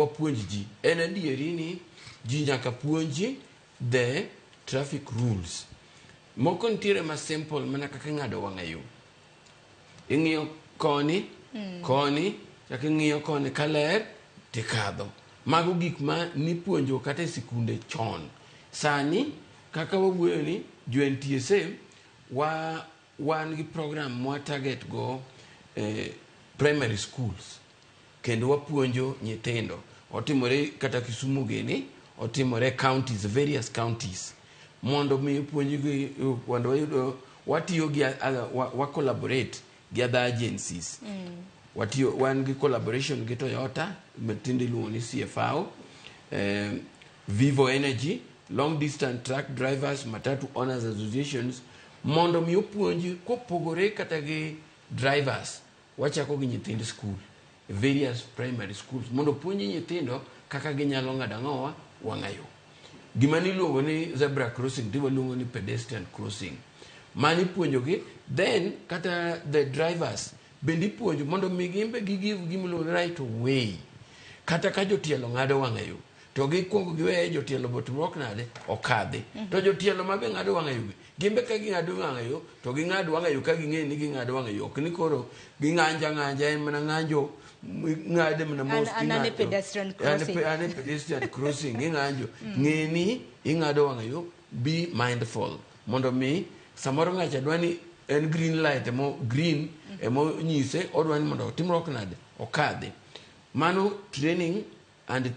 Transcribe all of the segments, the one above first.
wapuonj ji. En adieri ni ji nyaka puonji the traffic rules. Moko nitiere ma simple mana kaka ing'ado wang'a yo. Ing'iyo koni, mm. koni, chaka ing'iyo koni ka ler, tikadho. Mago gik ma nipuonjo kata e sikunde chon. Sani, kaka wawuoyo ni, jo NTSA, wa Wan gi program mwa target go e primary schools kendo wapuonjo nyithindo. Otimore kata Kisumu gini, otimore counties, various counties. Mondo mi opuonjgi mondo wayudo watiyo gi wa collaborate gi other agencies. Mm. Watiyo wan gi collaboration gi Toyota, tinde iluongo ni CFAO. Eh, Vivo Energy, Long Distance Truck Drivers, Matatu Owners Associations mondo mi opuonj kopogore kata gi drivers wachako gi nyithind skul various primary schools mondo puonji nyithindo kaka ginyalo ng'ado ang'owa wang'ayo gima niluongo ni zebra crossing ti waluongo ni pedestrian crossing mani puonjogi then kata the drivers bende ipuonjo mondo mi gimbe gi give gimiluongo ni right of way kata ka jotielo ng'ado wang'ayo to gikwongo giweye jotielo botimruok nade okadhi to jotielo ma be ng'ado wang'ayo be gin be ka ging'ado wang'ayo to ging'ad wang'ayo ka ging'eyo ni ging'ado wang'ayo ok ni koro ging'anja ng'anja en mana ng'anjo ng'ade mana mos An- an ane king'ato. pedestrian An- crossing. an ane pedestrian crossing ing'anjo ng'e ni ing'ado wang'ayo be mindful mondo mi samoro ng'acha dwa ni en green light emo green emonyise odwa ni mondo otimruok nade okadhi mano training And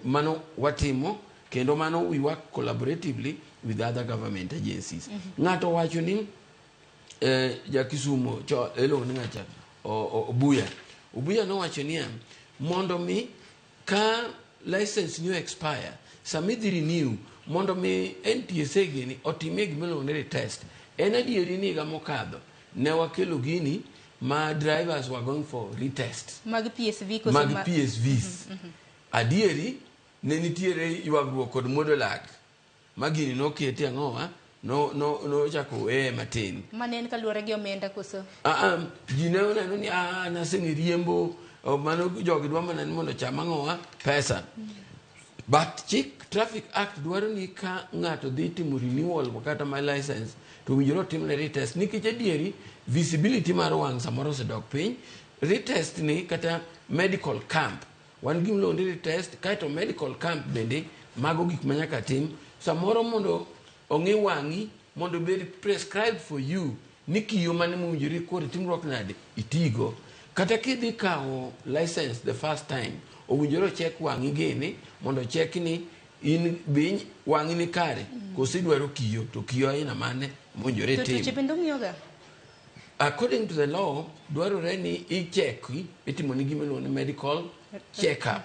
mano watimo kendo mano we work collaboratively with other government agencies. Mm -hmm. Ng'ato wacho ni eh, ja Kisumu cho elong ni ngacha Obuya. Obuya no wacho ni mondo mi ka license new expire sami dhi renew mondo mi NTSA gini otimie gima iluongo ni retest. En adieri ni higa mokadho Ne wakelo gini ma drivers were going for retest. Mag PSV koso mag ma... PSVs. Mm -hmm, mm -hmm. Adieri ne nitiere ywagruok kod muodo lak ma gini nokete ang'owa no no no chako weye matin. Mane en kaluwore gi omenda koso? Ah, ah ji ne oneno ni ah naseng'e riembo oh, mano jogi dwa mana ni mondo cham ang'owa pesa. Mm -hmm. But chik Traffic Act dwaro ni ka ng'ato dhi timo renewal kata my license to winjore otimne retest nikech adieri visibility mar wang' samoro osedok piny. Retest ni kata medical camp wan gi miluongo ni retest kaeto medical camp bende mago gik ma nyaka tim samoro mondo Ong'i wang'i mondo obed prescribed for you ni kiyo mane mowinjore kori timruok nade itigo. Kata kidhi kawo license the first time, owinjore ochek wang'i gini mondo ochek ni in be wang'i ni kare koso idwaro kiyo to kiyo aina mane mowinjore To tuoche itim. bende ong'iyoga? According to the law, dwarore ni icheki, itimo ni gima iluongo ni medical check up.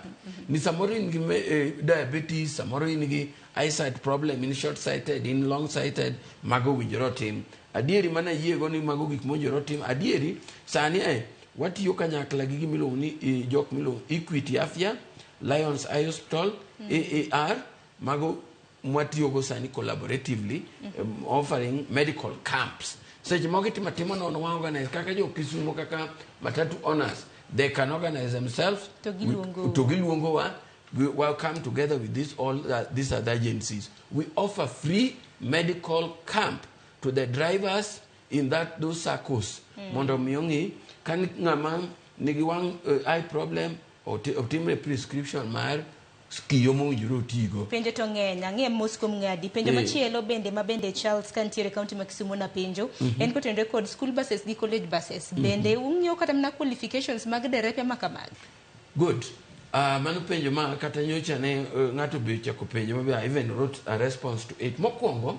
Ni samoro in gi me- eh, diabetes, samoro in gi eyesight problem, in short sighted, in long sighted, mago owinjore otim. Adieri mana yiego ni mago gik mowinjore otim. Adieri sani eh, watiyo kanyakla gi gima iluongo ni eh, jok miluongo Equity Afya, Lions Eye Hospital, AAR, Mago mwatiyogo sani collaboratively mm -hmm. um, offering medical camps seche moko itimo timo nono wa organize kaka jo Kisumo kaka matatu owners they can organize themselves to giluongo wa we will come together with this all uh, these other agencies we offer free medical camp to the drivers in that those circles mm. mondo mi ong'i ka ng'ama nigi wang' uh, eye problem otimre prescription mar Ski yo mowinjore otigo. Penjo to ng'eny, ang'e mos kuom ng'adi. Penjo machielo bende ma bende Charles ka nitiere county ma Kisumo napenjo en kotenore kod school buses gi college buses. Bende ung'iyo kata mana qualifications mag derepe ma kamagi? Good. Ah, mano penjo ma kata nyocha ne eh, ng'ato be ochako penjo ma be I even wrote a response to it. Mokwongo,